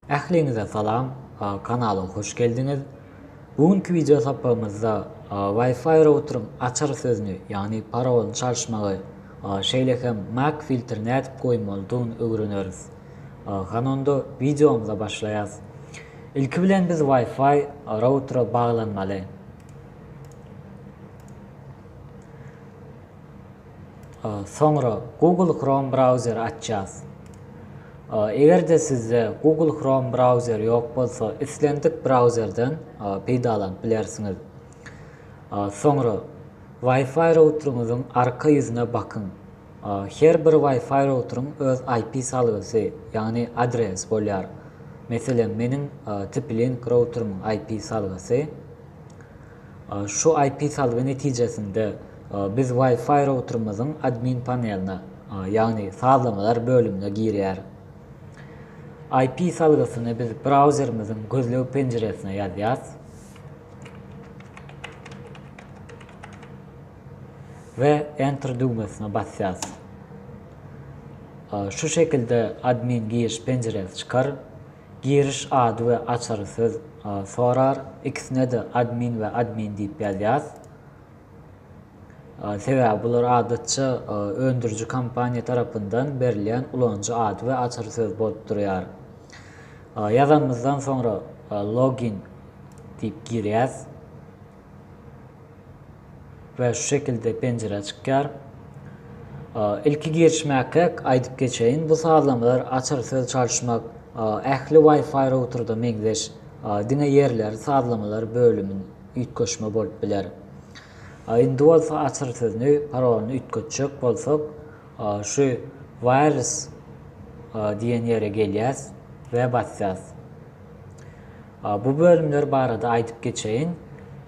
Ähliňize salam, kanala hoş geldiňiz. Bu günki wideo sapagymyzda Wi-Fi routeryň açar sözüni, ýagny parolyny çalyşmagy, şeýle hem mac filtri nädip goýmalydygyny öwreneris. Hany onda wideomyza başlaýas. Ilki bilen biz Wi-Fi routera baglanmaly. Soňra Google Chrome brauzeri açýas. Eger-de sizde Google Chrome brauzeri ýok bolsa, islendik brauzerden peýdalanyp bilersiňiz. Soňra Wi-Fi routeringiziň arka ýüzüne bakyň. Her bir Wi-Fi routering öz IP salgysy, ýagny adres bolýar. Meselem, meniň TP-Link routerimiň IP salgysy. Şu IP salgy netijesinde biz Wi-Fi routerymyzyň admin paneline, ýagny sazlamalar bölümine girýär. IP salgysyny biz brauzerimiziň gözleg penjiresine ýazýas we Enter düwmesine basýas. Şu şekilde admin giriş penjiresi çykar. Giriş ady we açary söz sorar. Ikisine-de admin we admin diýip ýazýas. Sebäbi bular adatça öndüriji kompaniýa tarapyndan berilýän ulanyjy ady we açary söz bolup durýar. Ýazanymyzdan soňra login diýip girýäs. we şu şekilde penjire çykýar. Ilki girişmäkäk aýdyp geçeýin, bu sazlamalar açar söz çalyşmak, ähli Wi-Fi routerda meňzeş, diňe ýerleri sazlamalar bölümini üýtgeşme bolup biler. Indi bolsa açar sözni, parolyny üýtgetjek bolsak, şu Wireless diýen ýere gelýäs we basýas. Bu bölümler barada aýdyp geçeýin.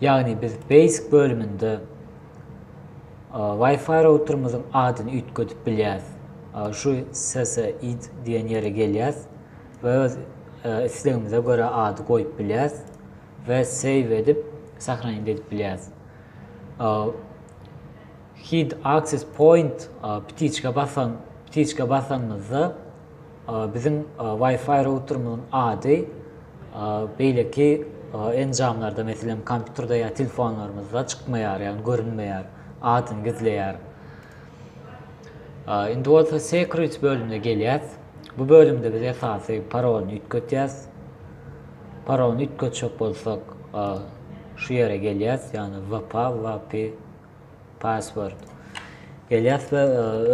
Ýagny biz basic bölüminde Wi-Fi routerymyzyň adyny üýtgedip bilýäris. Şu ssyd diýen ýere gelýäs we öz islegimize görä ady goýup bilýäris we save edip sahranit edip bilýäris. Hide access point ptiçka basan ptiçka basanymyzda Biziň Wi-Fi routerimiziň ady beýleki enjamlarda, meselem, kompýuterde ýa telefonlarymyzda çykmaýar, ýagny görünmeýär, adyny gizleýär. Indi bolsa Security bölümine gelýäs. Bu bölümde biz esasy parolyny üýtgetýäs. Parolyny üýtgetjek bolsak, şu ýere gelýäs, ýagny VP, VP Password. Gelýäs we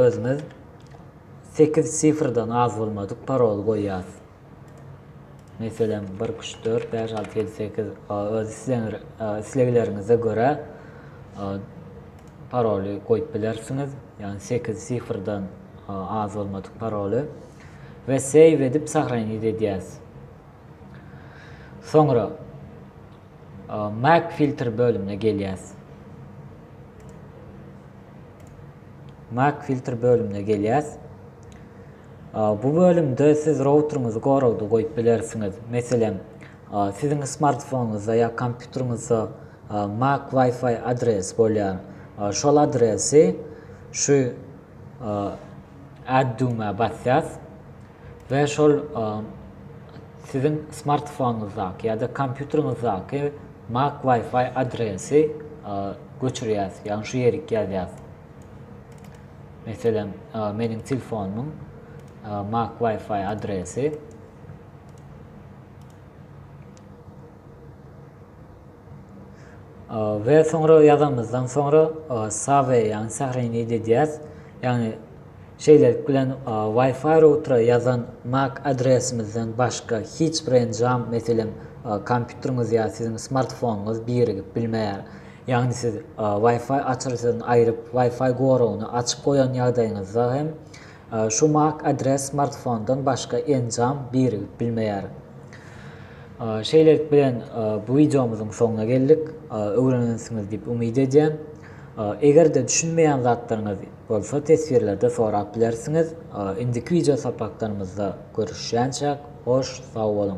özümiz sekiz sifrden az bolmadyk parol goýýas. Meselem, bir, iki, üç, dört, bäş, alty, ýedi, sekiz. Öz islegleriňize görä paroly goýup bilersiňiz. Ýagny sekiz sifrden az bolmadyk paroly. We save edip sahranit edýäs. Soňra Mac filter bölümine gelýäs. Mac filter bölümine gelýäs. Bu bölümde siz routeriňizi goragda goýup bilersiňiz. Meselem, siziň smartfonyňyzda ýa kompýuteriňizde Mac Wi-Fi adres bolýar. Şol adresi şu Add düwmä basýas. we şol siziň smartfonyňyzdaky ýa-da kompýuteriňizdaky mac Wi-Fi adresi göçürýäs, ýagny şu ýerik ýazýas. Meselem, meniň telefonymyň mac Wi-Fi adresi we soňra ýazanymyzdan soňra save ýagny sahrenit edýäs. Ýagny şeýlelik bilen Wi-Fi routera ýazan MAC adresimizden başga hiç bir enjam, meselem, kompýuteriňiz ýa siziň smartfonyňyz birigip bilmeýär. Ýagny siz Wi-Fi açyryjyny aýryp, Wi-Fi goragyny açyk goýan ýagdaýyňyzda hem Şu mac adres smartfondan başga enjam birigip bilmeýär. Şeýlelik bilen bu wideomyzyň soňuna geldik. Öwrenensiňiz diýip umyt edýän. Eger-de düşünmeýän zatlaryňyz bolsa teswirlerde sorap bilersiňiz. Indiki wideo sapaklarymyzda görüşýänçäk hoş sag boluň.